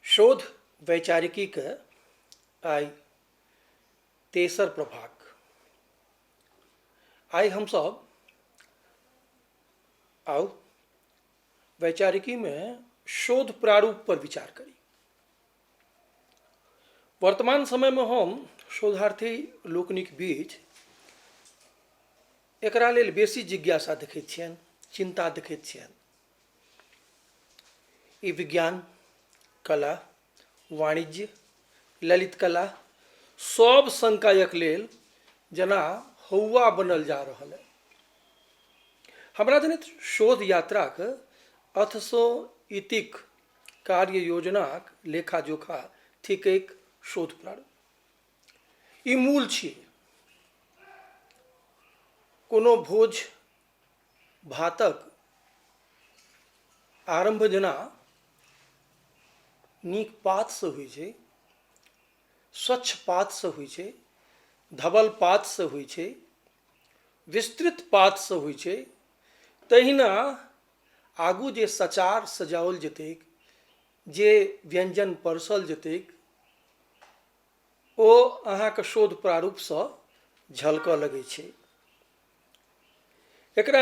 शोध वैचारिकी के आइ तेसर प्रभाग आइ हम सब आउ वैचारिकी में शोध प्रारूप पर विचार करी वर्तमान समय में हम शोधार्थी लोकनिक बीच एकरा लेल बेसी जिज्ञासा देखैत छियनि चिन्ता देखैत छियनि ई विज्ञान कला वाणिज्य ललित कला सब संकायक लेल जेना हौआ बनल जा रहल है हमरा जनैत शोध यात्राक अथसँ इतिक कार्य योजनाक लेखा जोखा थिकैक शोध प्रारंभ ई मूल छियै कोनो भोज भातक आरम्भ जेना नीक पातसँ होइ छै स्वच्छ पातसँ होइ छै धवल पातसँ होइ छै विस्तृत पातसँ होइ छै तहिना आगू जे सचार सजाओल जेतैक जे व्यञ्जन परसल जेतैक ओ अहाँके शोध प्रारूपसँ झलकऽ लगै छै एकरा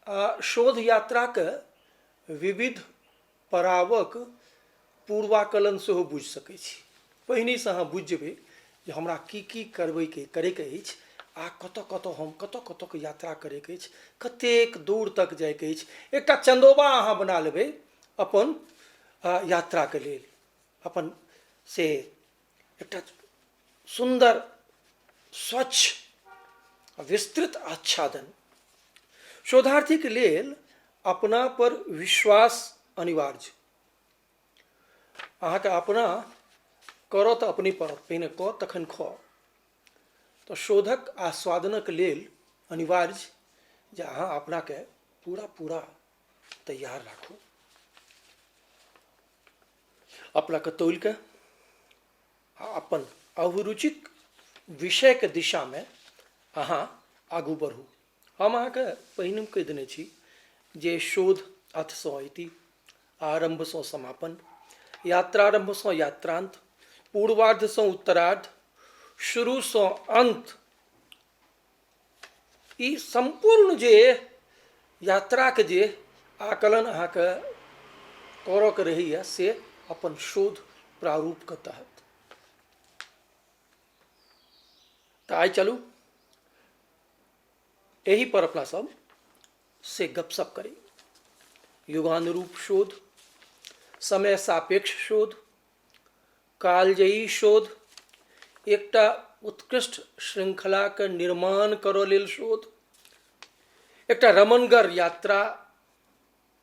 आ शोध यात्राक विविध पड़ावक पूर्वाकलन सेहो बुझि सकैत छी पहिनेसँ अहाँ बुझि जेबै जे हमरा की की करबैके करैके अछि आ कतऽ कतऽ हम कतऽ कतऽके यात्रा करैके अछि कतेक दूर तक जाइके अछि एकटा चन्दोबा अहाँ बना लेबै अपन यात्राके लेल अपन से एकटा सुन्दर स्वच्छ आ विस्तृत आच्छादन शोधार्थीक लेल अपना पर विश्वास अनिवार्य अहाँके अपना करऽ तऽ अपने पड़त पहिने कऽ तखन खऽ तऽ शोधक आस्वादनक लेल अनिवार्य जे अहाँ अपनाके पूरा पूरा तैयार राखू अपना के तोल के अपन अभिरुचिक विषय के दिशा में अहाँ आगू बढ़ू हम अहाँ के पहिने कह देने छी जे शोध अथ सो अति आरंभ सो समापन यात्रारंभ सो यात्रांत पूर्वार्ध सो उत्तरार्ध शुरू सो अंत ई सम्पूर्ण जे यात्राके जे आकलन अहाँके करऽके रहैए से अपन शोध प्रारूपके तहत तऽ आइ चलू एहि पर अपना सब से गपशप करी युगानुरूप शोध समय सापेक्ष शोध कालजयी शोध एकटा उत्कृष्ट श्रृंखलाक निर्माण करऽ लेल शोध एकटा रमनगर यात्रा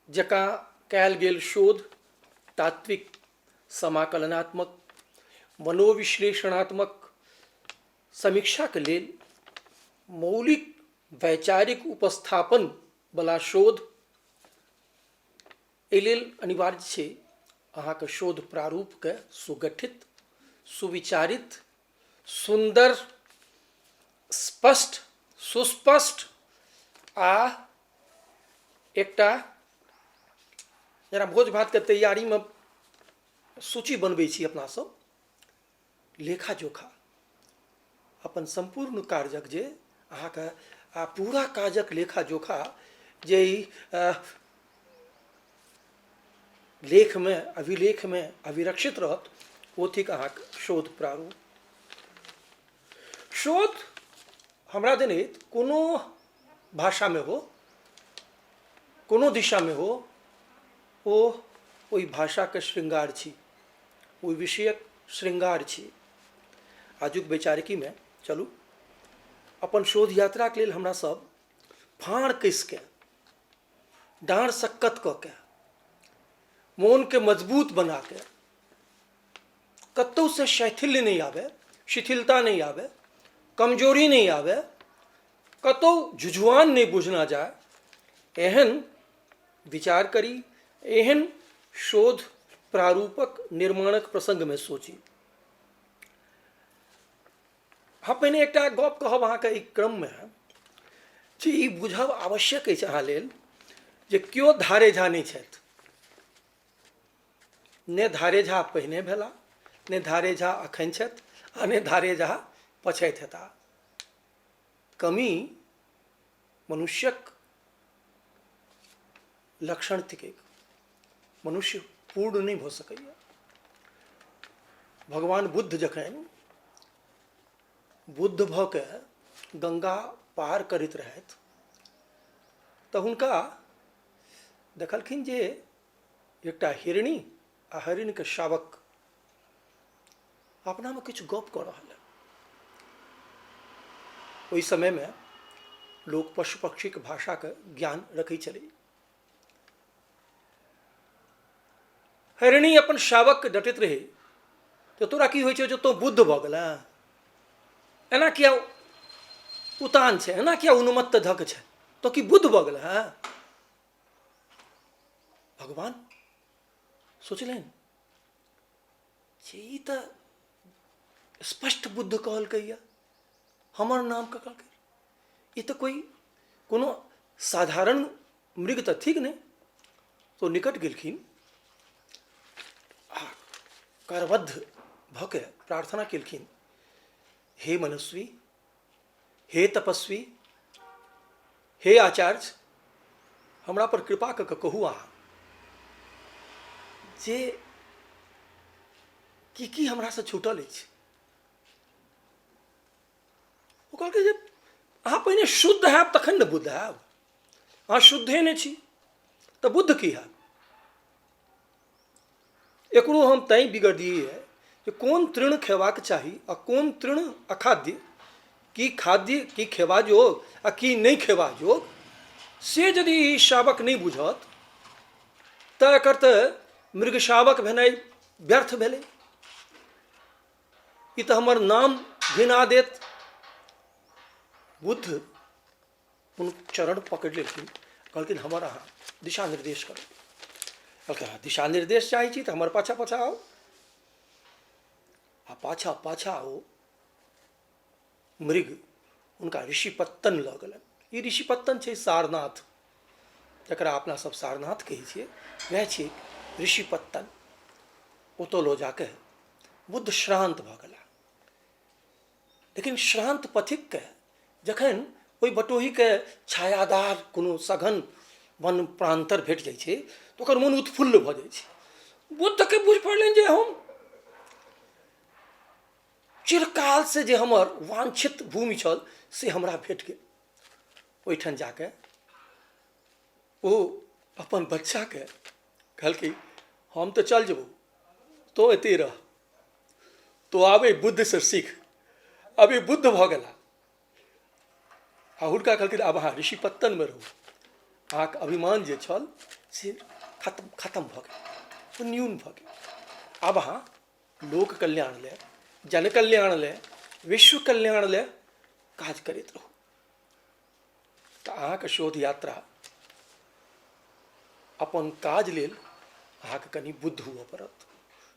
जकाँ कयल गेल शोध तात्विक समाकलनात्मक मनोविश्लेषणात्मक समीक्षाक लेल मौलिक वैचारिक उपस्थापन बला शोध एहि लेल अनिवार्य छै अहाँके शोध प्रारूपके सुगठित सुविचारित सुन्दर स्पष्ट सुस्पष्ट आ एकटा जेना भोज भातके तैयारीमे सूची बनबै छी अपनासभ लेखा जोखा अपन सम्पूर्ण कार्यक जे अहाँके आ पूरा काजक लेखा जोखा जे ई लेखमे अभिलेखमे अभिरक्षित रहत ओ थिक अहाँके शोध प्रारूप शोध हमरा जनैत कोनो भाषामे हो कोनो दिशामे हो ओ ओहि भाषाके शृङ्गार छी ओहि विषयक शृङ्गार छी आजुक वैचारिकीमे चलू अपन शोध यात्राके लेल हमरा सब फाँड़ कसिके डाँड़ सक्कत कऽ के मोनके मजबूत बनाके कतहुसँ शैथिल्य नहि आबय शिथिलता नहि आबय कमजोरी नहि आबय कतहु झुझुआन नहि बुझना जाय एहन विचार करी एहन शोध प्रारूपक निर्माणक प्रसङ्गमे सोची हम पहिने एकटा गप कहब अहाँके एहि क्रममे जे ई बुझब आवश्यक अछि अहाँ लेल जे केओ धारे झा नहि छथि ने धारे झा पहिने भेला ने धारे झा अखन छथि आ ने धारे झा पछैत हेता कमी मनुष्यक लक्षण थिक मनुष्य पूर्ण नहि भऽ सकैए भगवान बुद्ध जखन बुद्ध भऽ के गंगा पार करैत रहथि तऽ हुनका देखलखिन जे एकटा हिरणी आ हरिणके शावक अपनामे किछु गप कऽ रहल अइ ओहि समयमे लोक पशु पक्षीक भाषाके ज्ञान रखै छलै हरिणी अपन शावकके डटैत रहै तऽ तोरा की होइ छौ जे तोँ बुद्ध भऽ गेल एना किया उतान छै एना किया उन्मत्त धक छै तो की बुद्ध भऽ गेल हँ भगवान सोचलनि जे ई तऽ स्पष्ट बुद्ध कहलकैए हमर नामके कहलकै ई तऽ कोइ कोनो साधारण मृग तऽ थिक नहि तो निकट गेलखिन आ करबद्ध भऽ के प्रार्थना केलखिन हे मनस्वी हे तपस्वी हे आचार्य हमरा पर कृपा कऽ कऽ कहू अहाँ जे की की हमरासँ छूटल अछि ओ कहलकै जे अहाँ पहिने शुद्ध हैब तखन ने बुद्ध हैब अहाँ शुद्धे नहि छी तऽ बुद्ध की हैब एकरो हम तैँ बिगड़लियै यऽ जे कोन तृण खयबाक चाही आ कोन तृण अखाद्य की खाद्य की खयबा जोग आ की नहि खयबा जोग से यदि ई शावक नहि बुझत तऽ एकर तऽ मृग शावक भेनाइ व्यर्थ भेलै ई तऽ हमर नाम घिना देत बुद्ध कोनो चरण पकड़ि लेलखिन कहलखिन हमर अहाँ दिशा निर्देश करू कहलखिन अहाँ दिशा निर्देश चाहै छी तऽ हमर पाछा पाछा आउ आ पाछा पाछा ओ मृग हुनका ऋषिपत्तन लऽ गेलनि ई ऋषिपत्तन छै सारनाथ जकरा अपना सब सारनाथ कहै छियै वएह छै ऋषिपत्तन ओतऽ लऽ जाके बुद्ध श्रान्त भऽ गेला लेकिन श्रान्त पथिकके जखन ओहि बटोहीके छायादार कोनो सघन वन प्रान्तर भेट जाइ छै तऽ ओकर मोन उत्फुल्ल भऽ जाइ छै बुद्धके बुझि पड़लनि जे हम चिरकाल से जे हमर वांछित भूमि छल से हमरा भेट गेल ओहिठाम जाके ओ अपन बच्चाके कहलकै हम तऽ चलि जेबौ तोँ एतहि रह तोँ आब एहि बुद्धसँ सीख आब ई बुद्ध भऽ गेला आ हुनका कहलखिन आब अहाँ ऋषि पत्तनमे रहू अहाँके अभिमान जे छल से खत्म खत्म भऽ गेल ओ न्यून भऽ गेल आब अहाँ लोक कल्याण लए जन कल्याण लए विश्व कल्याण लए काज करैत रहू तऽ अहाँके शोध यात्रा अपन काज लेल अहाँके कनि बुद्ध हुअ पड़त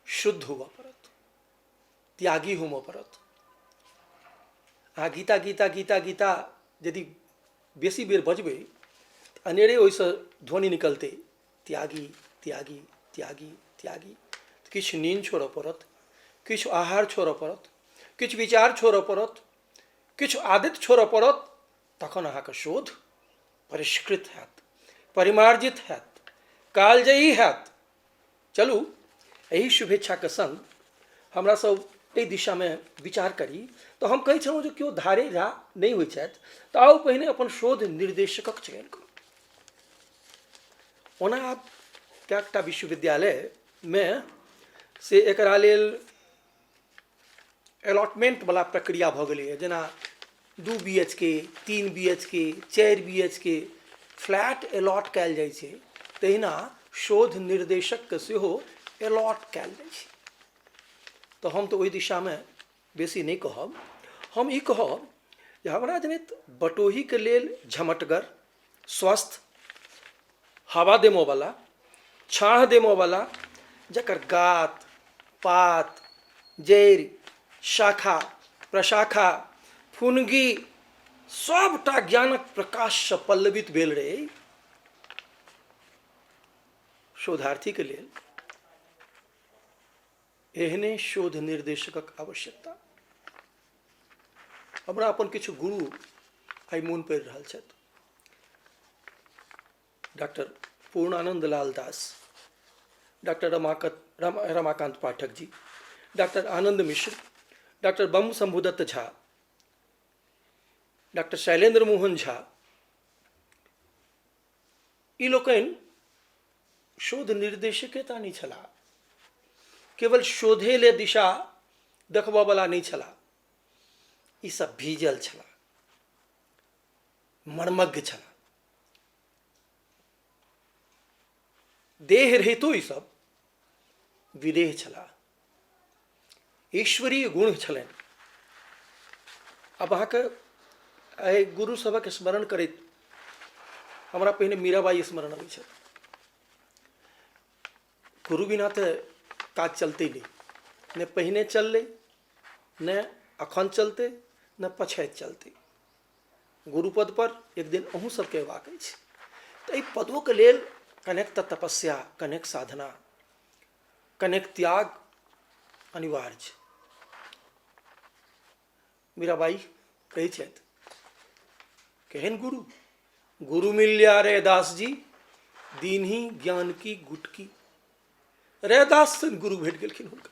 शुद्ध हुअ पड़त त्यागी हुअ पड़त अहाँ गीता गीता गीता गीता यदि बेसी बेर बजबै तऽ अनेरे ओहिसँ ध्वनि निकलतै त्यागी त्यागी त्यागी त्यागी किछु नींद छोड़य पड़त किछु आहार छोड़य पड़त किछु विचार छोड़य पड़त किछु आदित छोड़य पड़त तखन अहाँके शोध परिष्कृत हैत परिमार्जित हैत कालजयी हैत चलू एहि शुभेच्छाके संग हमरा सब एहि दिशामे विचार करी तऽ हम कहै छलहुँ जे केओ धारे झा नहि होइ छथि तऽ आउ पहिने अपन शोध निर्देशकक चयन करू ओना आब कएकटा विश्वविद्यालयमे से एकरा लेल अलॉटमेंट वाला प्रक्रिया भऽ गेलैए जेना दू बी एच के तीन बी एच के चारि B H K flat allot कयल जाइ छै तहिना शोध निर्देशकके सेहो अलॉट कयल जाइ छै तऽ हम तऽ ओहि दिशामे बेसी नहि कहब हम ई कहब जे हमरा जनैत बटोहीके लेल झमटगर स्वस्थ हवा देमऽवला छाँह देमऽवला जकर गात पात जड़ि शाखा प्रशाखा फुनगी सभटा ज्ञानक प्रकाशसँ पल्लवित भेल रहै शोधार्थीके लेल एहने शोध निर्देशकक आवश्यकता हमरा अपन किछु गुरु आइ मोन पड़ि रहल छथि डॉक्टर पूर्णानंद लाल दास डॉक्टर रमाकत राम रमाकांत पाठक जी डॉक्टर आनंद मिश्र डॉक्टर बम शंभुदत्त झा डॉक्टर शैलेंद्र मोहन झा ई लोकनि शोध निर्देशके ता नहि छलाह केवल शोधे ले दिशा देखबयवला नहि छलाह ईसभ भीजल छलाह मर्मज्ञ छलाह देह रहितो ईसभ विदेह छलाह ईश्वरीय गुण छलनि अब अहाँके एहि गुरु सभक स्मरण करैत हमरा पहिने मीराबाई स्मरण अबै छथि गुरु बिना तऽ काज चलतै नहि ने पहिने चललै ने अखन चलतै ने पछाइत चलतै गुरुपद पर एक दिन अहूँ सबके अयबाक अछि तऽ एहि पदोके लेल कनेक तऽ तपस्या कनेक साधना कनेक त्याग अनिवार्य छै मीराबाई कहै छथि केहन गुरु गुरु मिल्या रे दास जी दिन ही ज्ञान की गुटकी रैदास गुरु भेट गेलखिन हुनका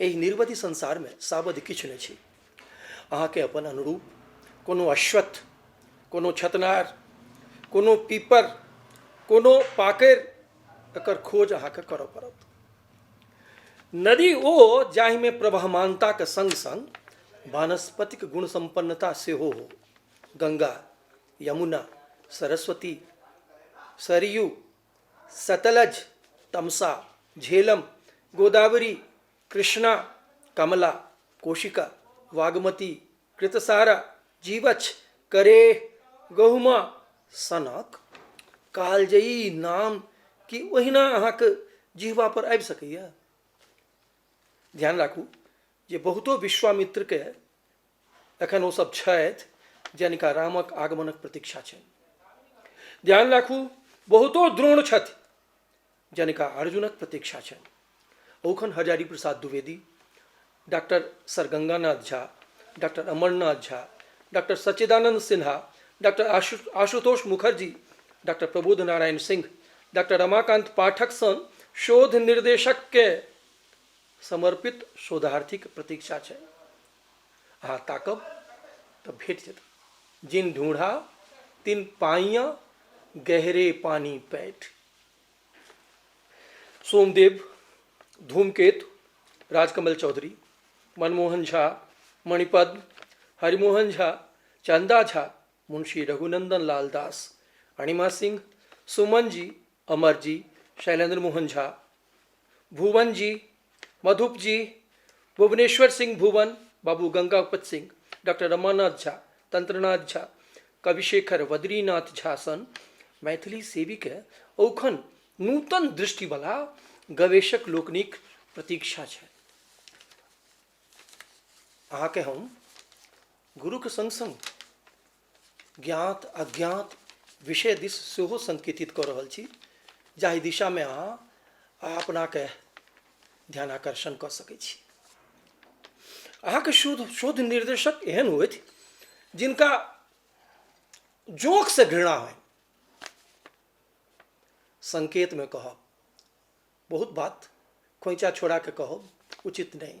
एहि निर्वधि संसारमे सावधि किछु नहि छी अहाँके अपन अनुरूप कोनो अश्वत्थ कोनो छतनार कोनो पीपर कोनो पाकरि एकर खोज अहाँके करऽ पड़त नदी ओ जाहिमे प्रवहमानताके सङ्ग सङ्ग वानस्पतिक गुण सम्पन्नता सेहो हो गङ्गा यमुना सरस्वती सरयू सतलज तमसा झेलम गोदावरी कृष्णा कमला कोशिका वागमती कृतसारा जीवछ करे गहुमा सनक कालजयी नाम कि ओहिना अहाँके जिहवा पर आबि सकैए ध्यान राखू जे बहुतो विश्वामित्रके एखन ओसभ छथि जिनका रामक आगमनक प्रतीक्षा छनि ध्यान राखू बहुतो द्रोण छथि जिनका अर्जुनक प्रतीक्षा छनि ओखन Hazari Prasad Dwivedi doctor sir Ganganath Jha doctor Amarnath Jha doctor Sachchidanand Sinha doctor Ashu Ashutosh Mukherjee doctor Prabodh Narayan Singh doctor Ramakant Pathak सन शोध निर्देशकके समर्पित शोधार्थीके प्रतीक्षा छै अहाँ ताकब तऽ भेट जायत जिन ढूँढा तिन पाइया गहरे पानी पैठ सोमदेव धूमकेतु राजकमल चौधरी मनमोहन झा मणिपद्म हरिमोहन झा चंदा झा मुंशी रघुनंदन लाल दास अणिमा सिंह सुमन जी अमर जी शैलेंद्र मोहन झा भुवन जी मधुप जी भुवनेश्वर सिंह भुवन बाबू गंगापत सिंह डॉक्टर रमानाथ झा तंत्रनाथ झा कविशेखर वद्रीनाथ झा सन मैथिली सेवीके औखन नूतन दृष्टिवला गवेषक लोकनिक प्रतीक्षा छै अहाँके हम गुरुके संग संग ज्ञात अज्ञात विषय दिस सेहो संकेतित कऽ रहल छी जाहि दिशामे अहाँ आ अपनाके ध्यान आकर्षण कऽ सकै छी अहाँके शोध शोध निर्देशक एहन होथि जिनका जोंकसँ घृणा होइ संकेतमे कहब बहुत बात खोइचा छोड़ाके कहब उचित नहि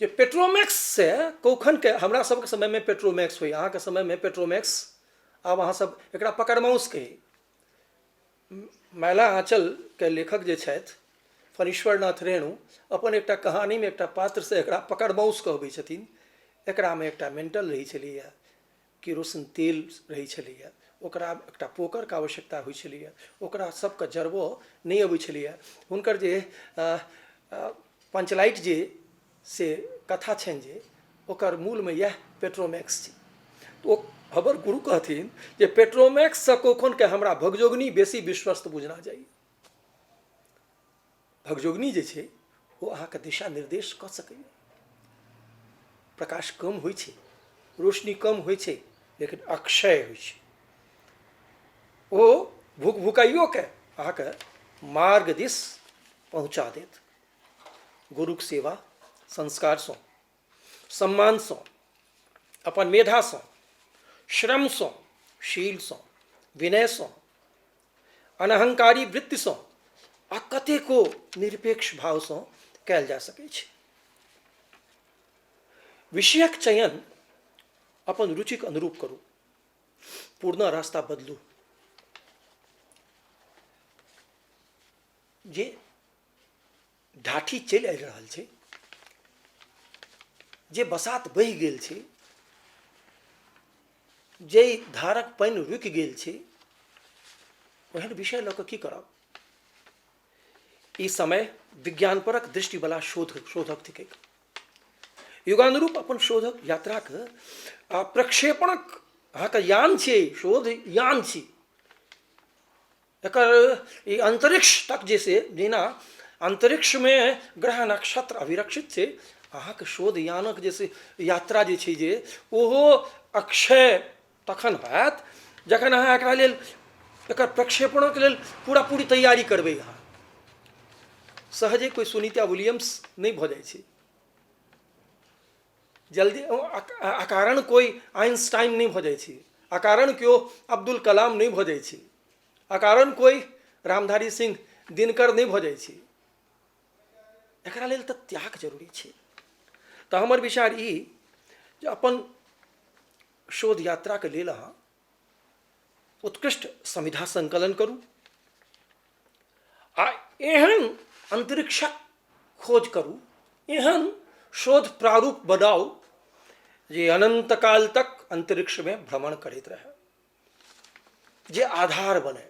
जे पेट्रोमैक्स से कखनके हमरा सभके समयमे पेट्रोमैक्स होइ अहाँके समयमे पेट्रोमैक्स आब अहाँ सभ एकरा पकड़माउस कही मैला आँचलके लेखक जे छथि फणीश्वर नाथ रेणु अपन एकटा कहानीमे एकटा पात्र से एकरा पकड़माउस कहबै छथिन एकरामे एकटा मेन्टल रहै छलैया केरोसिन तेल रहै छलैए ओकरा एकटा पोकरके आवश्यकता होइ छलैए ओकरा सबके जरबऽ नहि अबै छलैए हुनकर जे पंचलाइट जे से कथा छनि जे ओकर मूलमे इएह पेट्रोमैक्स छी तऽ ओ हमर गुरु कहथिन जे पेट्रोमैक्ससँ कखनके हमरा भगजोगनी बेसी विश्वस्त बुझना जाइए भगजोगनी जे छै ओ अहाँके दिशा निर्देश कऽ सकैए प्रकाश कम होइ छै रोशनी कम होइ छै लेकिन अक्षय होइ छै ओ भूख भुकाइयोके अहाँके मार्ग दिस पहुँचा देत गुरुक सेवा संस्कारसँ सम्मानसँ अपन मेधासँ श्रमसँ शीलसँ विनयसँ अनहंकारी वृत्तिसँ आ कतेको निरपेक्ष भावसँ कयल जा सकैत छै विषयक चयन अपन रुचिक अनुरूप करू पूर्ण रास्ता बदलू जे ढाठी चलि आबि रहल छै जे बसात बहि गेल छै जाहि धारक पानि रुकि गेल छै ओहन विषय लऽ कऽ की करब ई समय विज्ञानपरक दृष्टिवला शोध शोधक थिकै युगानुरूप अपन शोधक यात्राक आ प्रक्षेपणक अहाँके यान छियै शोध यान छी एकर ई अंतरिक्ष तक जे छै जेना अंतरिक्षमे ग्रह नक्षत्र अभिरक्षित छै अहाँके शोध यानक जे छै यात्रा जे छै जे ओहो अक्षय तखन होयत जखन अहाँ एकरा लेल एकर प्रक्षेपणक लेल पूरा पूरी तैयारी करबै अहाँ सहजे कोइ सुनीता विलियम्स नहि भऽ जाइ छै जल्दी अकारण कोइ आइंस्टाइन नहि भऽ जाइ छै अकारण केओ अब्दुल कलाम नहि भऽ जाइ छै अकारण कोइ रामधारी सिंह दिनकर नहि भऽ जाइ छै एकरा लेल तऽ त्याग जरूरी छै तऽ हमर विचार ई जे अपन शोध यात्राके लेल अहाँ उत्कृष्ट संविधा संकलन करू आ एहन अंतरिक्षक खोज करू एहन शोध प्रारूप बनाउ जे अनंतकाल तक अंतरिक्षमे भ्रमण करैत रहए जे आधार बने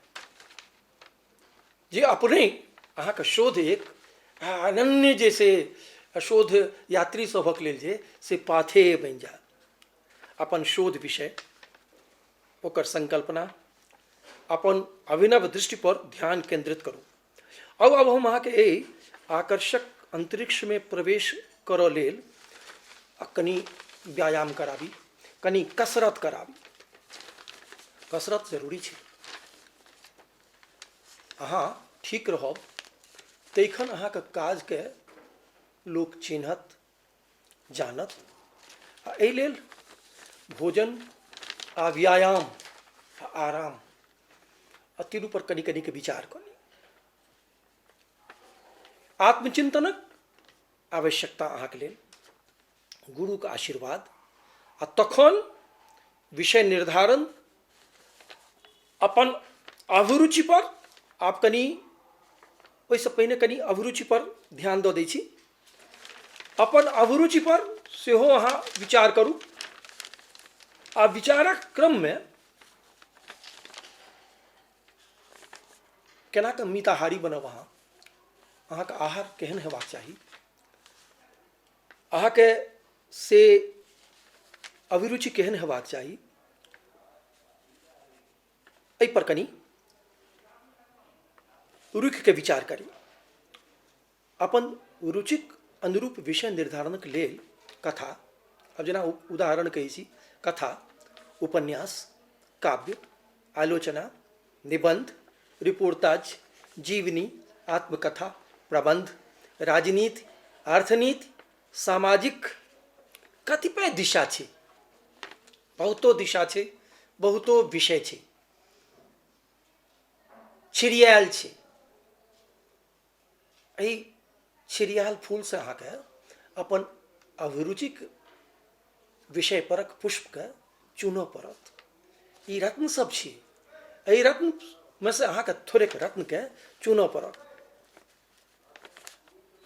जे अपने अहाँके शोध एक आ अनन्य जे से शोध यात्री सभक लेल जे से पाथेय बनि जाय अपन शोध विषय ओकर संकल्पना अपन अभिनव दृष्टि पर ध्यान केंद्रित करू अब अब हम अहाँके एहि आकर्षक अन्तरिक्षमे प्रवेश करऽ लेल आ कनि व्यायाम कराबी कनि कसरत कराबी कसरत जरूरी छै अहाँ ठीक रहब तखन अहाँके काजके लोक चिन्हत जानत आ एहि लेल भोजन आ व्यायाम आ आराम आ तीनू पर कनि कनि के विचार कऽ ली आत्मचिंतनक आवश्यकता अहाँके लेल गुरुके आशीर्वाद आ तखन विषय निर्धारण अपन अभिरुचि पर आप कनि ओहिसँ पहिने कनि अभिरुचि पर ध्यान दऽ दै छी अपन अभिरुचि पर सेहो अहाँ विचार करू आ विचारक क्रममे केना कऽ मिताहारी बनब अहाँ अहाँके आहार केहन हेबाक चाही अहाँके से अभिरुचि केहन हेबाक चाही एहिपर कनि रुखिके विचार करी अपन रुचिक अनुरूप विषय निर्धारणक लेल कथा आब जेना उदाहरण कहै छी कथा उपन्यास काव्य आलोचना निबन्ध रिपोर्ताज जीवनी आत्मकथा प्रबन्ध राजनीति अर्थनीति सामाजिक कतिपय दिशा छै बहुतो दिशा छै बहुतो विषय छै छिड़ियाल छै एहि छिड़ियाल फूलसँ अहाँके अपन अभिरुचिक विषय परक पुष्पके चुनऽ पड़त ई रत्न सब छी एहि रत्नमे से अहाँके थोड़ेक रत्नके चुनऽ पड़त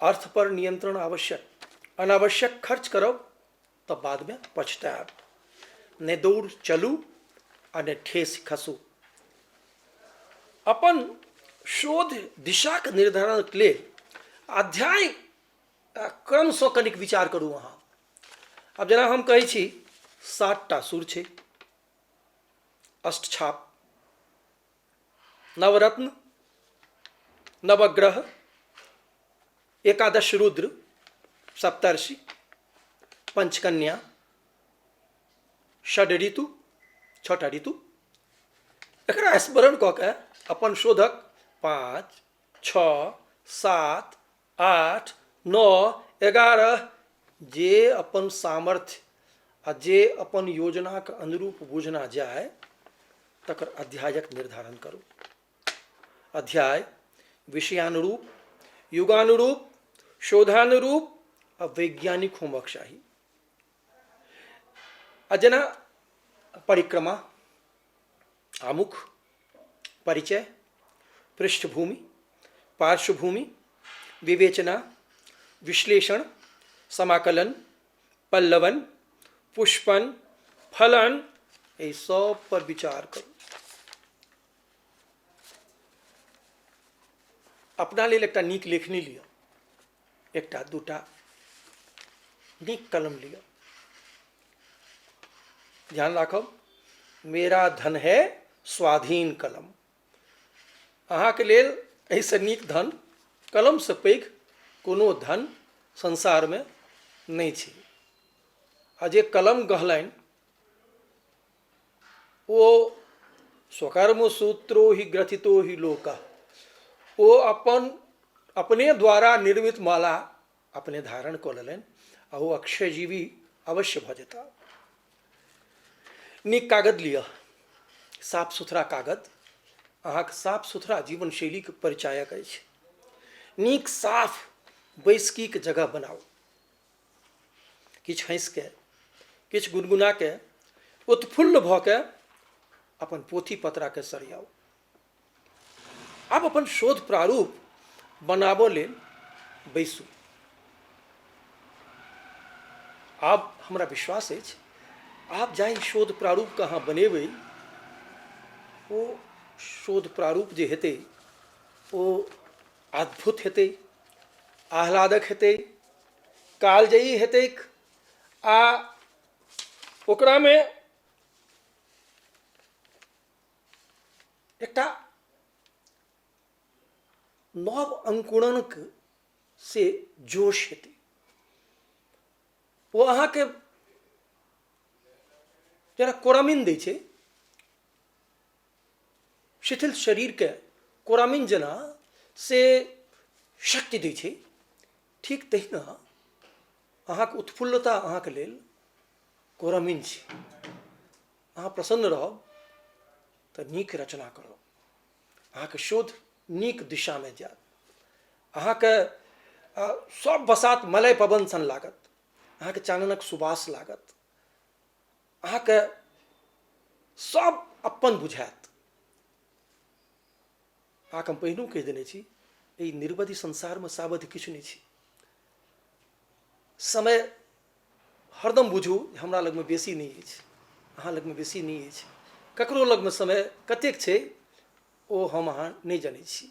अर्थ पर नियंत्रण आवश्यक अनावश्यक खर्च करब तऽ बादमे पछतायब नहि दौड़ चलू आ नहि ठेस खसू अपन शोध दिशाक निर्धारणक लेल अध्याय क्रमसँ कनिक विचार करू अहाँ आब जेना हम कहै छी सातटा सुर छै अष्टछाप नवरत्न नवग्रह एकादश रुद्र सप्तर्षि पंचकन्या षड ऋतु छठा ऋतु एकरा स्मरण कऽ के अपन शोधक पाँच छओ सात आठ नओ एगारह जे अपन सामर्थ्य आ जे अपन योजनाक अनुरूप बुझना जाय तकर अध्यायक निर्धारण करू अध्याय विषयानुरूप युगानुरूप शोधानुरूप आ वैज्ञानिक होमक चाही आ जेना परिक्रमा आमुख परिचय पृष्ठभूमि पार्श्वभूमि विवेचना विश्लेषण समाकलन पल्लवन पुष्पन फलन ये सब पर विचार करो अपना लेल एक नीक लेखनी लिया एकटा दूटा नीक कलम लिअ ध्यान राखब मेरा धन है स्वाधीन कलम अहाँके लेल एहिसँ नीक धन कलमसँ पैघ कोनो धन संसारमे नहि छै आ जे कलम गहलनि ओ स्वकर्म सूत्रो ही ग्रथितो ही लोक ओ अपन अपने द्वारा निर्मित माला अपने धारण कऽ लेलनि आ ओ अक्षय जीवी अवश्य भऽ जेता नीक कागद लिअ साफ सुथरा कागद अहाँके साफ सुथरा जीवन शैलीके परिचायक अछि नीक साफ बैसकीके जगह बनाउ किछु हँसि कऽ किछु गुनगुना कऽ उत्फुल्ल भऽ कऽ अपन पोथी पत्राके सरियाउ आब अपन शोध प्रारूप बनाबऽ लेल बैसू आब हमरा विश्वास अछि आब जाहि शोध प्रारूपके अहाँ बनेबै ओ शोध प्रारूप जे हेतै ओ अद्भुत हेतै आह्लादक हेतै कालजयी हेतैक आ ओकरामे एकटा नव अंकुरणक से जोश हेतै ओ अहाँके जेना कोरामिन दै छै शिथिल शरीरके कोरामिन जेना से शक्ति दै छै ठीक तहिना अहाँके उत्फुल्लता अहाँके लेल कोरामिन छै अहाँ प्रसन्न रहब तऽ नीक रचना करब अहाँके शोध नीक दिशामे जायत अहाँके अ, सब बसात मलय पवन सन लागत अहाँके चाननक सुबास लागत अहाँके सब अपन बुझाएत अहाँके हम पहिनहु कहि देने छी एहि निर्वधि संसारमे सावधि किछु नहि छी समय हरदम बुझू जे हमरा लगमे बेसी नहि अछि अहाँ लगमे बेसी नहि अछि ककरो लगमे समय कतेक छै ओ हम अहाँ नहि जनै छी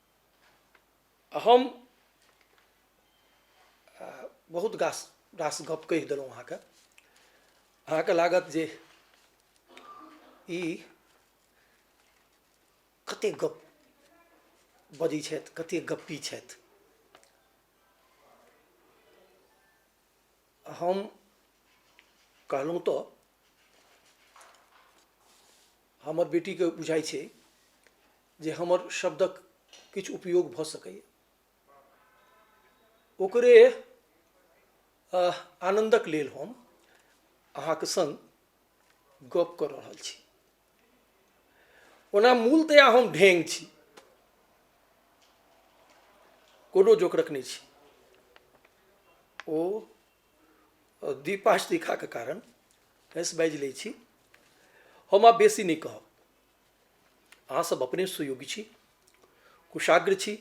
हम बहुत गास रास गप कहि देलहुँ अहाँके अहाँके लागत जे ई कतेक गप बजै छथि कतेक गप्पी छथि हम कहलहुँ तऽ हमर बेटीके बुझाइ छै जे हमर शब्दक किछु उपयोग भऽ सकैए ओकरे आनन्दक लेल हम अहाँके सङ्ग गप कऽ रहल छी ओना मूलतया हम ढेंग छी कोनो जोकरक नहि छी ओ दीपाष्टिकाके कारण हँसि बाजि लै छी हम आब बेसी नहि कहब अहाँ सब अपने सुयोग्य छी कुशाग्र छी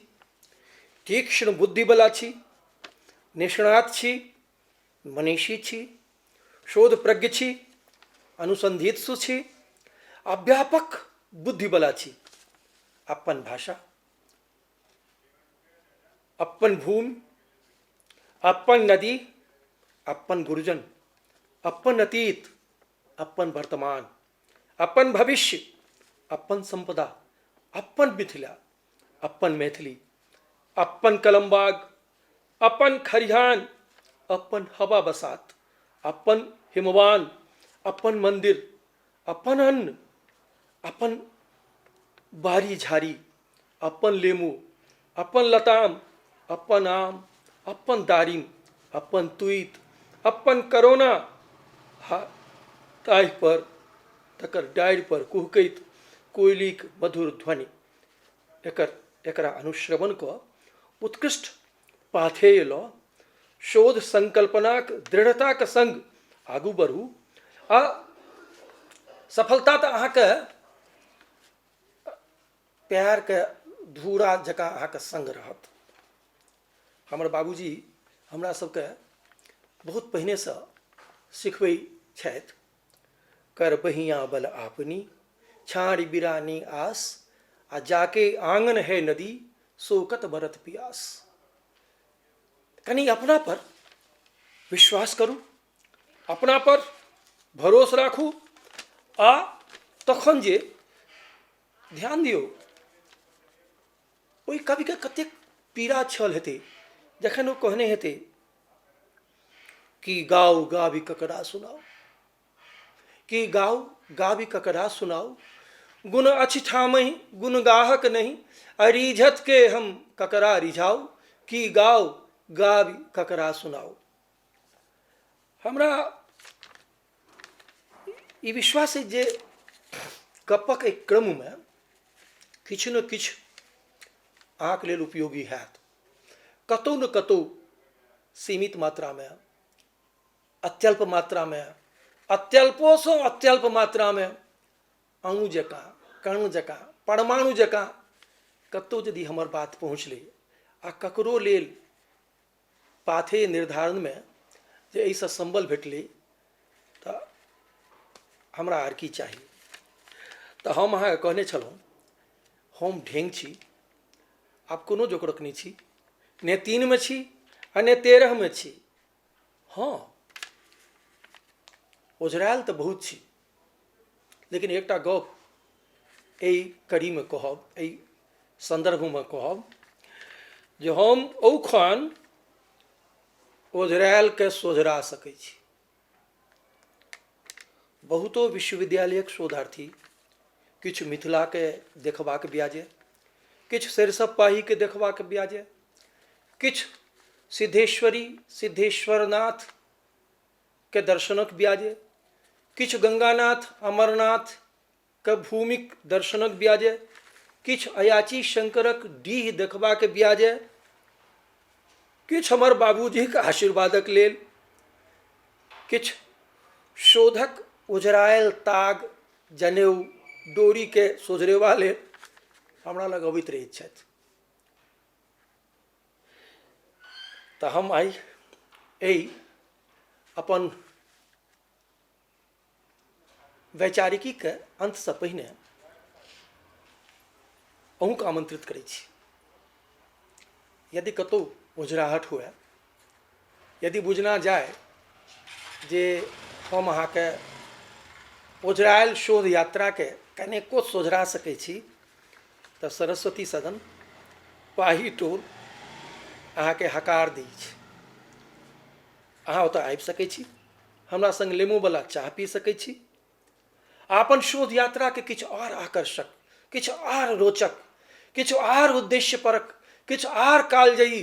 तीक्ष्ण बुद्धिबला छी निष्णात छी मनीषी छी शोध प्रज्ञ छी अनुसंधित सु छी आ व्यापक बुद्धिबला छी अपन भाषा अपन भूमि अपन नदी अपन गुरुजन अपन अतीत अपन वर्तमान अपन भविष्य अपन सम्पदा अपन मिथिला अपन मैथिली अपन कलमबाग अपन खरिहान अपन हवा बसात अपन हिमवान अपन मन्दिर अपन अन्न अपन बाड़ी झाड़ी अपन लेमू अपन लताम अपन आम अपन दारिम अपन तुइत अपन करोना हा ताहिपर तकर डारिपर कुहकैत कोयलीक मधुर ध्वनि एकर एकरा अनुश्रवण कऽ उत्कृष्ट पाथेय लऽ शोध संकल्पनाक दृढ़ताक संग आगू बढ़ू आ सफलता तऽ अहाँके पएरके धूरा जकाँ अहाँके सङ्ग रहत हमर बाबूजी हमरा सबके बहुत पहिनेसँ सिखबै छथि कर बहियाँ बल आपनी छाँड़ि बिरानी आस आ जाके आँगन है नदी सोकत बरत पियास कनि अपनापर विश्वास करू अपनापर भरोस राखू आ तखन जे ध्यान दियौ ओहि कविके कतेक पीड़ा छल हेतै जखन ओ कहने हेतै कि गाउ गाबी ककरा सुनाउ कि गाउ गाबी ककरा सुनाउ गुण अछि ठामहि गुण गाहक नहि अरिझतके हम ककरा रिझाउ कि गाउ गाबी ककरा सुनाउ हमरा ई विश्वास अछि जे गपक एहि क्रममे किछु ने किछु अहाँके लेल उपयोगी हैत कतहु ने कतहु सीमित मात्रामे अत्यल्प मात्रामे अत्यल्पोसँ अत्यल्प मात्रामे अणु जकाँ कण जकाँ परमाणु जकाँ कतहु यदि हमर बात पहुँचलै आ ककरो लेल पाथेय निर्धारणमे जे एहिसँ सम्बल भेटलै तऽ हमरा आर की चाही तऽ हम अहाँके कहने छलहुँ हम ढेङ्ग छी आब कोनो जोकरक नहि छी नहि तीनमे छी आ नहि तेरहमे छी हँ ओझराएल तऽ बहुत छी लेकिन एकटा गप एहि कड़ीमे कहब एहि सन्दर्भमे कहब जे हम औखन ओझरायलके सोझरा सकै छी बहुतो विश्वविद्यालयक शोधार्थी किछु मिथिलाके देखबाक ब्याजे किछु सरिसब पाहीके देखबाक ब्याजे किछु सिद्धेश्वरी सिद्धेश्वरनाथ के दर्शनक ब्याजे किछु गंगानाथ अमरनाथ के भूमिक दर्शनक ब्याजे किछु अयाची शंकरक डीह देखबाक ब्याजे किछु हमर बाबूजीक आशीर्वादक लेल किछु शोधक उजरायल ताग जनेऊ डोरीके सोझरेवा लेल हमरा लग अबैत रहैत छथि तऽ हम आइ एहि अपन वैचारिकीके अन्तसँ पहिने अहूँके आमन्त्रित करै छी यदि कतहु ओझराहट हुए यदि बुझना जाए जे हम अहाँके ओझराएल शोध यात्राके कनेको सोझरा सकै छी तऽ सरस्वती सदन पाही टोल अहाँके हकार दै छै अहाँ ओतऽ आबि सकै छी हमरा सङ्ग लेमोवला चाह पी सकै छी अपन शोध यात्राके किछु आर आकर्षक किछु आर रोचक किछु आर उद्देश्यपरक किछु आर कालजयी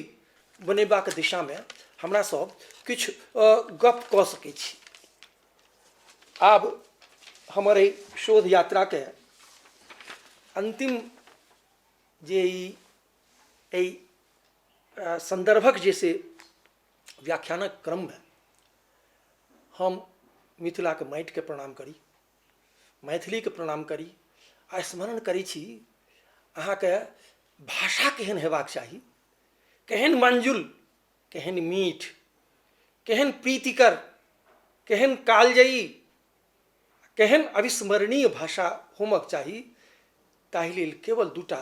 बनेबाक दिशामे हमरा सब किछु गप कऽ सकै छी आब हमर एहि शोध यात्राके अन्तिम जे ई एहि सन्दर्भक जे से व्याख्यानक क्रममे हम मिथिलाके माटिके प्रणाम करी मैथिलीके प्रणाम करी आ स्मरण करै छी अहाँके भाषा केहन हेबाक चाही केहन मंजुल केहन मीठ केहन प्रीतिकर केहन कालजयी केहन अविस्मरणीय भाषा होमक चाही ताहि लेल केवल दूटा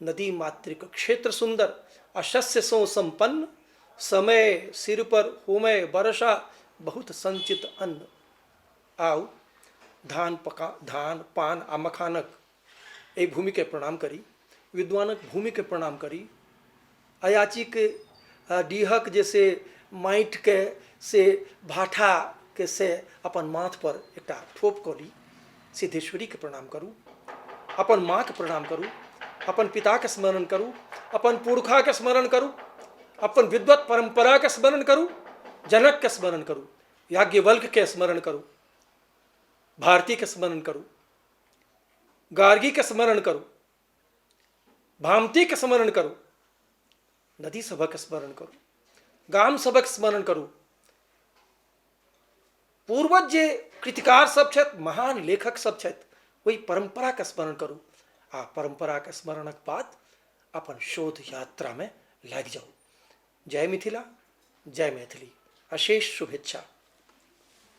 नदी मातृक क्षेत्र सुंदर अशस्य सो संपन्न समय सिर पर होमय वर्षा बहुत संचित अन्न आउ धान पका धान पान आ मखानक एहि भूमिके प्रणाम करी विद्वानक भूमिके प्रणाम करी अयाचीक डीहक जे से माटिके से भाठाके से अपन माथ पर एकटा ठोप कऽ ली सिद्धेश्वरीके प्रणाम करू अपन माँके प्रणाम करू अपन पिताके स्मरण करू अपन पुरखाके स्मरण करू अपन विद्वत परम्पराके स्मरण करू जनकके स्मरण करू याज्ञवल्कके स्मरण करू भारतीके स्मरण करू गार्गीके स्मरण करू भामतीके स्मरण करू नदी सभक स्मरण करू गाम सभक स्मरण करू पूर्वज जे कृतिकार सब छथि महान लेखक सब छथि ओहि परम्पराके स्मरण करू आ परम्पराके स्मरणक बाद अपन शोध यात्रामे लागि जाउ जय मिथिला जय मैथिली अशेष शुभेच्छा